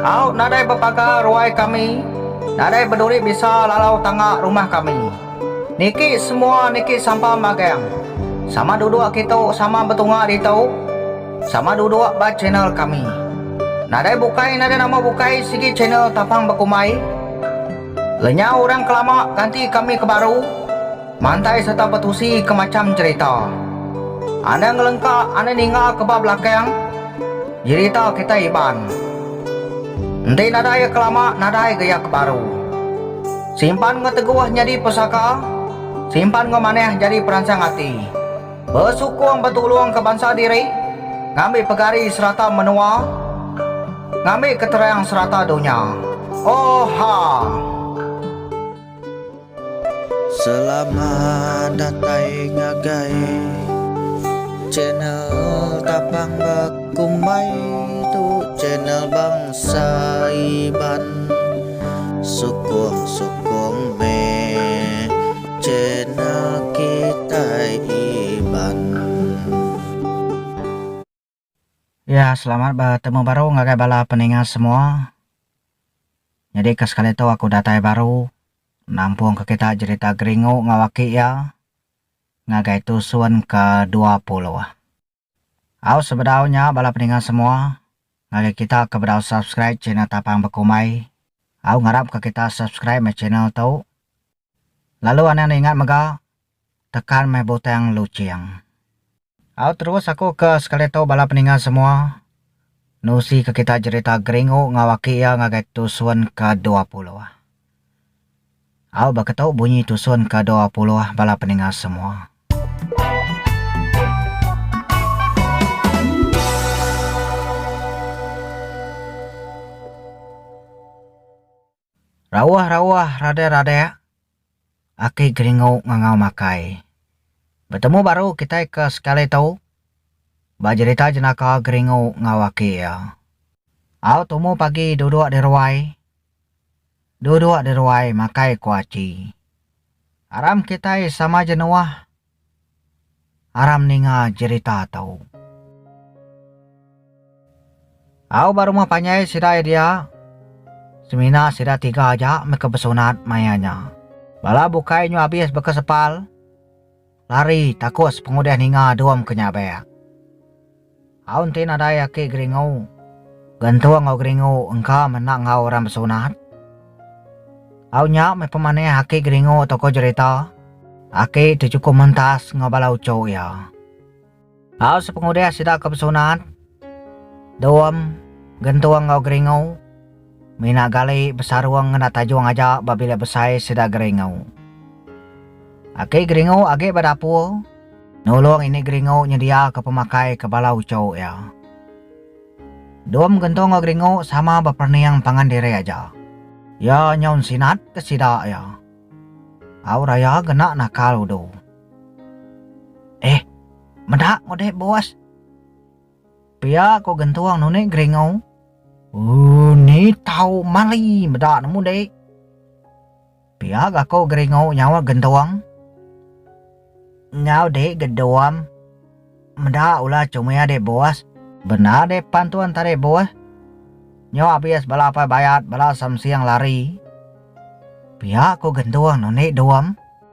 Au nadai bepaga ruai kami, nadai beduri bisa lalau tanga rumah kami. Niki semua niki sampam magang. Sama duduk kitu sama betunga ditu. Sama duduk ba channel kami. Nadai bukai nadai nama bukai sigi channel tapang bekumbai. Lenyau orang ke lama ganti kami ke baru mantai serta betusi ke macham jerita. Anda ngelengka anda ninga ke ba belakang jerita kitai Iban. Enti nadai iya ke lama nadai ga iya ke baru. Simpan enggau teguh nyadi pesaka, simpan enggau manah nyadi peransang ati. Besukung betulungka bansa diri, ngambi pegari serata menua, ngambi keterang serata dunya. Oha! Selamat datai ngagai channel tapang bek. Kumbai tu channel Bangsa Iban sukung sukung meh channel kitai Iban. Ya selamat betemu baru ngagai bala peninga semua. Nyadi ke sekali tu aku datai baru nampung ke kita jerita Geringu enggau aki iya ngagai tusun ke dua puluh. Au sebedau nya bala peninga semua ngagai kita ke bedau subscribe channel tapang bekumbai au ngarap ke kita subscribe meh channel tu lalu anang enda ingat mega tekan meh butang luching. Au terus aku ke sekali tu bala peninga semua nusi ke kita jerita geringu ngau aki iya ngagai tusun ke dua puluh. Au baka tu bunyi tusun ke dua puluh bala peninga semua. Rauh rauh radek radek aki geringu ngangau makai. Betemu baru kitai ke sekali tu ba jerita jenaka geringu enggau aki iya. Au tumu pagi duduk di ruai. Duduk di ruai makai kuaci. Aram kitai sama ja nuah. Aram ninga jerita tu. Au ba rumah panjai sida iya dia. Semina sida tiga aja meh ke besunat maya nya. Bala bukai nyu abis beka sepal. Lari takut sepengudih ninga dum ke nyabik. Au enti nadai aki geringu, gentung enggau geringu engka meh enda enggau orang besunat. Au nya meh pemanih aki geringu toko jerita, Aki tu chukup mentas enggau bala uchu iya. Au sepengudih sida ke besunat, Dom, Gentung enggau Geringu, mina gali besarung ngena tajung aja ba bilik besai sida Geringu. Aki Geringu agi ba dapur, nulung ini Geringu nyediaka pemakai ke bala uchu iya. Dom, Gentung enggau Geringu sama beperening pangan diri aja. Iya nyau nsinat ke sida iya. Au raya gena nakal udu. Eh, meda ko deh bos. Pia ko gentung nuni geringau. Uh, ni tau mali meda nemu dek. Pia ga ko geringau nyaut gentung. Enggau dek gedum. Meda ulah comel dek bos. Bendar dek pantun tadi bos. Nyo abis bala apai bayat bala samsing lari. Pia ko gentung nuni dum.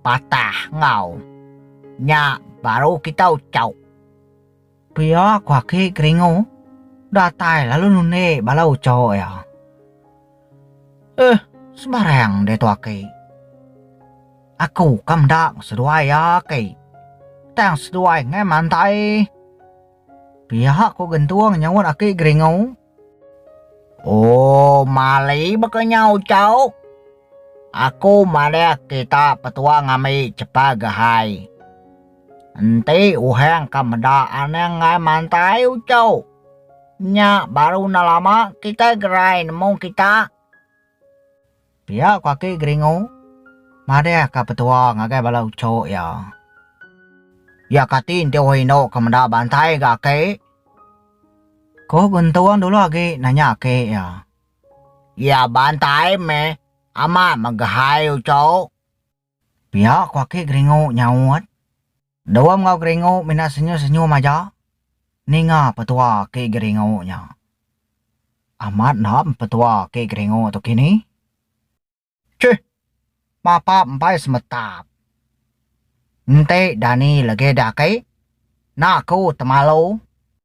patah enggau nya baru kita ucok. Pia ku aki Keringu datai lalu nundi bala ucok iya. Heh sembarang diatu aki. Aku ka meda enggau seduai iya aki. Tang seduai ngai mantai. Pia ku Gentung nyahut aki Keringu. Oh mali baka nyau chau. Aku madah kita petua ngambi chepa gehai. Enti uhang ka meda anang ngai mantai uchok. Nya baru enda lama kitai gerai nemu kita. Pia ku aki Geringu madih ka petua ngagai bala uchok iya. Iya kati enti orang indu ke meda bantai ga aki? Ku Guntung dulu agi nanya aki iya. Iya bantai meh amat mega hai uchok. Pia ku aki Geringu nyaut. Dua enggau Geringu mina senyum-senyum aja ninga petua aki Geringu nya. Amat enda petua aki Geringu tu kini. Chih! Bapa empai semetap. Enti Dani legi diaki, enda aku temalu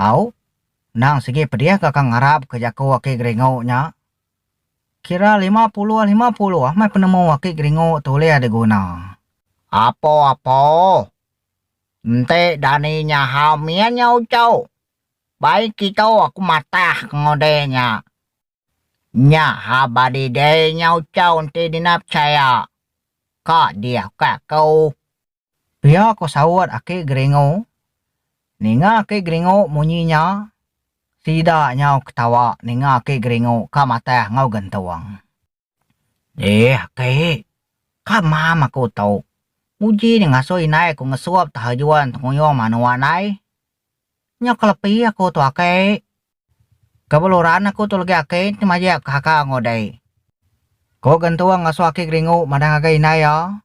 Au, endang sigi pedih ke ka ngarap ke jaku aki Geringo nya. Kira lima puluh lima puluh meh penemu aki Geringo tu ulih diguna. Apo apo. Enti Dani nyahau mie nya uchu. Bai kitu aku matah ke ngundi nya. Nya ha badi dei nya uchu enti dina pechaya. Ka dih ukai aku. Pia ko saut aki Geringu. Ninga aki Geringu munyi nya, sida nyau ketawa ninga aki Geringu ka matah enggau gentung. Deh aki, ka mam aku tu. Uji nya ngasuh indai ku ngesup tahajuan tenguyung manua nai. Nya kelepi aku tu aki. Ka beluran aku tu legi aki enti majak ke haka enggau deh. Ko gentung ngasuh aki Geringu madah ngagai indai iya.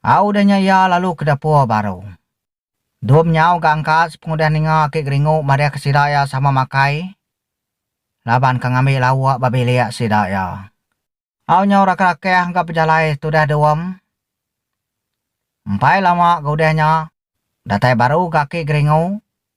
Au udah nya iya lalu ke dapur baru. Dom nyau ga angkat sepengudah ninga aki Geringu madahka sida iya sama makai laban ke ngambi lauk ba bilik sida iya. Au nyau rakah-rakah ga bejalai tudah Dom. Empai lama ga udah nya, datai baru ga aki Geringu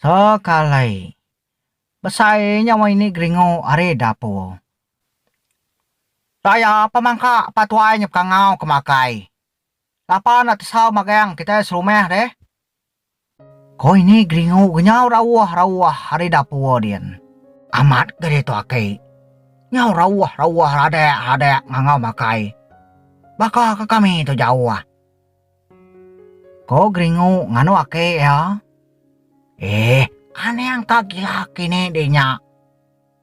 Sekalai. Besai nya wang ini geringu ari dapur. Daya pemangka pa tuai nya pekangau ke makai. Lapa enda tesau magang kitai serumah deh. Ko ini geringu kenyau rauh-rauh ari dapur din. Amat ga ditu aki. Nyau rauh-rauh radak-radak ngangau makai. Baka ke kami tu jauh. Ko Geringu nganu aki iya. Eh, aning ka gila aki ni deh nya.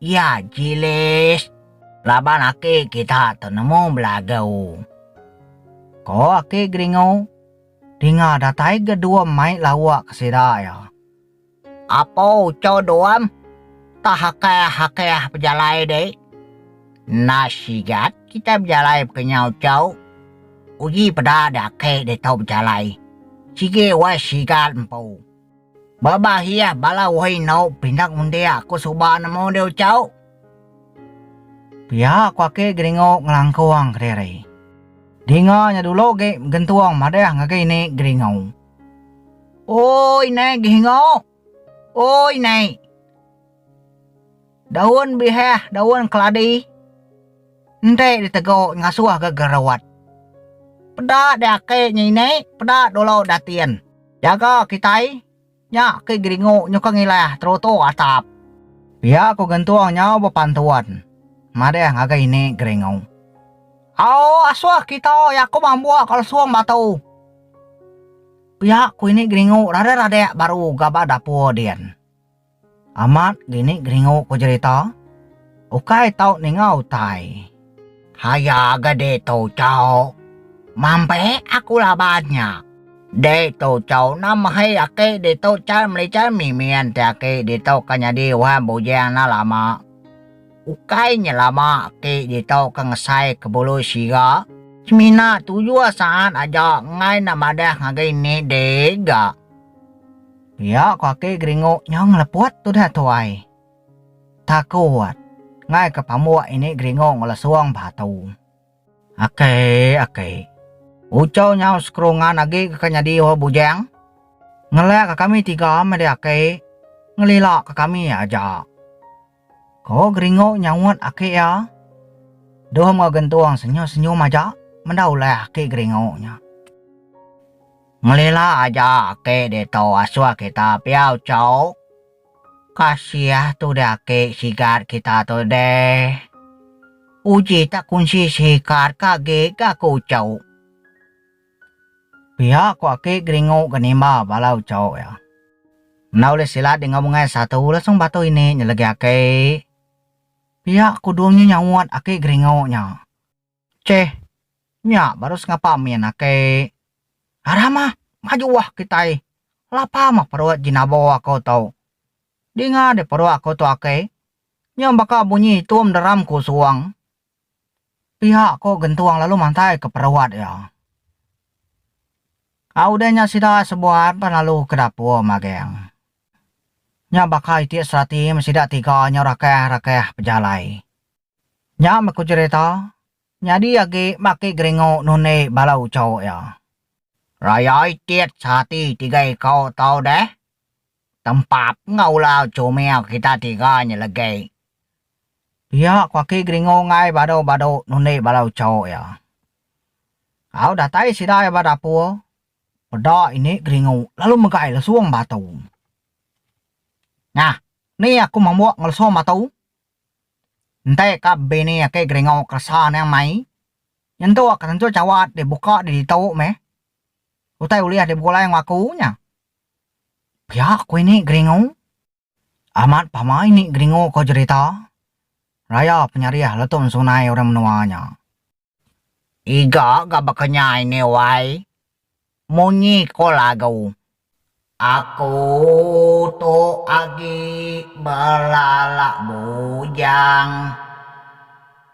Iya jilis laban aki kita tu nemu belagu. Ko aki Geringu, dinga datai ga dua mai lauk sida iya. Apo uchau Doam ka hakah-hakah bejalai deh? Enda sigat kitai bejalai baka nya uchau. Uji peda deh ake deh tau bejalai. Sigi wai sigat empu. Ba bahia bala wai enau pindah undi aku suba nemu deh uchauk. Pia aku ake geringu ngelangkong kediri. Dinga nya dulu agi gentung madah ngagai ini geringu. Oi nai gehengo. Oi nai. Daun bihah, daun keladi. Enti ditego ngasuh ga gerot. Peda diake nya ini, peda dulu datin. Jaga kitai, nya ke geringu nyukung ilah terutu atap. Pia ko gentung nyau bepantun madah ngagai ini geringu. Au asuh kitai aku mambuk ka lesung batu. Pia ku ini geringu radah radik baru gaba dapur din. Amat gini geringu ku jerita, ukai tau ninga utai. Haya ga deh tu chau, mambek aku laban nya. Deh tu chau na mahi aki ditu chal melichal mimin ti aki ditu ka nyadi wan bujing na lama. Ukai nyelama ti ditu ke ngesai ke bulu siga. Semina tu jua saat aja enggai enda madah ngagai ni deh ga. Pia ko aki geringu nyau ngeleput tudah tuai. Takut enggai ke pambuk ini geringu ngelesung batu. Aki aki. Ucau nyau sekerungan agi ke ka nyadi orang bujang. Ngelak ka kami tiga meh deh aki. Ngelila ka kami aja. Ko Geringo nyaut aki iya. Doh enggau Gentung senyum-senyum aja meda ulih aki Geringo nya. Ngelila aja aki ditu asuh kita pia uchauk. Kasiah tude aki sigat kita tu deh. Uji tak kunsi sikat ka agi ga ko uchauk. Pia ku aki Geringu ke nimba bala uchauk iya. Enda ulih silat di enggau mengai satu lasung batu ini nyelegi aki. Pia ku Dung nya nyaut aki Geringu nya. Cheh, nya baru sengapa min aki. Aram ah, maju ah kitai. Lapa mah perut Jinabo aku tu. Dinga deh perut aku tu aki. Nyau baka bunyi itum deram ku suang. Pia ko Gentung lalu mantai ke peruat iya. Ka udah nya sida sebuan pan lalu ke dapur maging. Nya baka iti serati meh sida tiga nyau rakah-rakah pejalai. Nya meh ko cherita nyadi agi baki Geringu nundi bala ucho iya. Raya iti serati tiga iko tau deh tempap enggau ulau comel kita tiga nya legei. Pia ko aki Geringung ai badu-badu nundi bala uchow iya. Au datai sida iya ba dapur, peda ini Geringu lalu megai lesong batu. Nah, ni aku mambuk enggau lesong batu. Entai ka bini aki Geringu keresa niang mai. Nyentuk ka tentu chawat dibuka di ditu meh. Utai ulih dibegulai enggau aku nya. Pia ko ini geringu. Amat pama ini geringu ko jerita. Raya penyarih letun sunai orang menua nya. Iga ga baka nya ini wai. Munyi ko lagu. Aku tu agi belala bujang.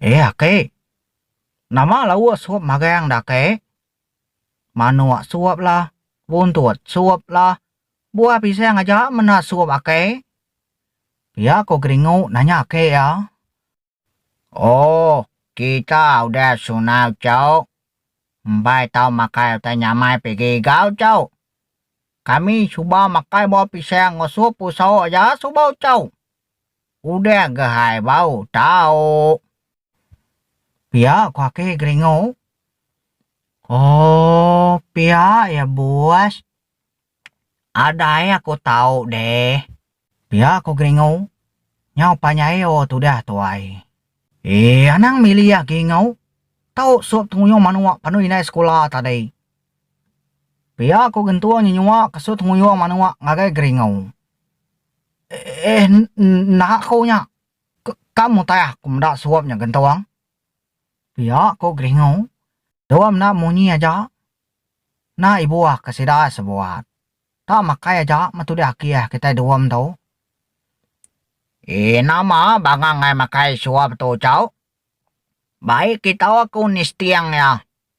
Eh aki. Nama lauk sup magang dah aki. Manuk sup lah, buntut sup lah, buah pisang aja menda sup aki. Pia ko Geringu nanya aki iya. Oh kita udah sunau cuk. Mbai tau makai utai nyamai pigi gau cuk. Kami suba makai buah pisang enggau sup uso aja suba ucau. Udah ga hai bau tauk. Pia ko aki Geringu. Oh pia ya bos. Adai aku tauk deh. Pia ko Geringu. Nyau panjai oh tudah tuai. Eh anang mili ya Geringu. Tauk sup tenguyung manuk panu indai sekula tadi. Pia ko Gentung nyenyua ke sup tenguyung manuk ngagai Geringu. Eh enda ko nya. Kam utai aku meda suop nya gentung. Pia ko Geringu. Dua meda munyi aja. Enda ibuh ka sida sebuat. Ka makai aja metudi akih kitai duum tu. Eh nama banga ngai makai suop tu cau. Bai kitu aku nisting iya.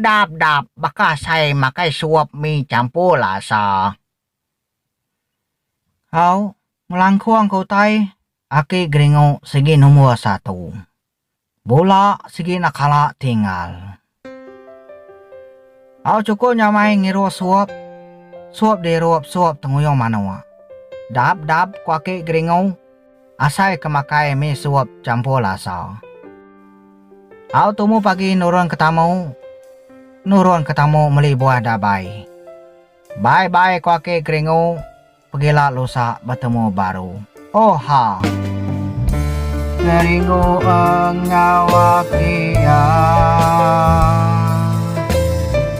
Dap dap baka asai makai sup mi champur lasa. Hau, ngelangkung ke utai aki geringu sigi nombor satu. Bula sigi enda kala tinggal. Hau chukup nyamai ngiru sup, sup dirup sup tenguyung manuk. Dap dap ku aki geringu. Asai ke makai mi sup champur lasa. Au tumu pagi nurun ke tamu, nurun ke tamu meli buah dabai. Bai bai ko aki Geringu pegila lusa betemu baru. Oha. Geringu enggau aki iya.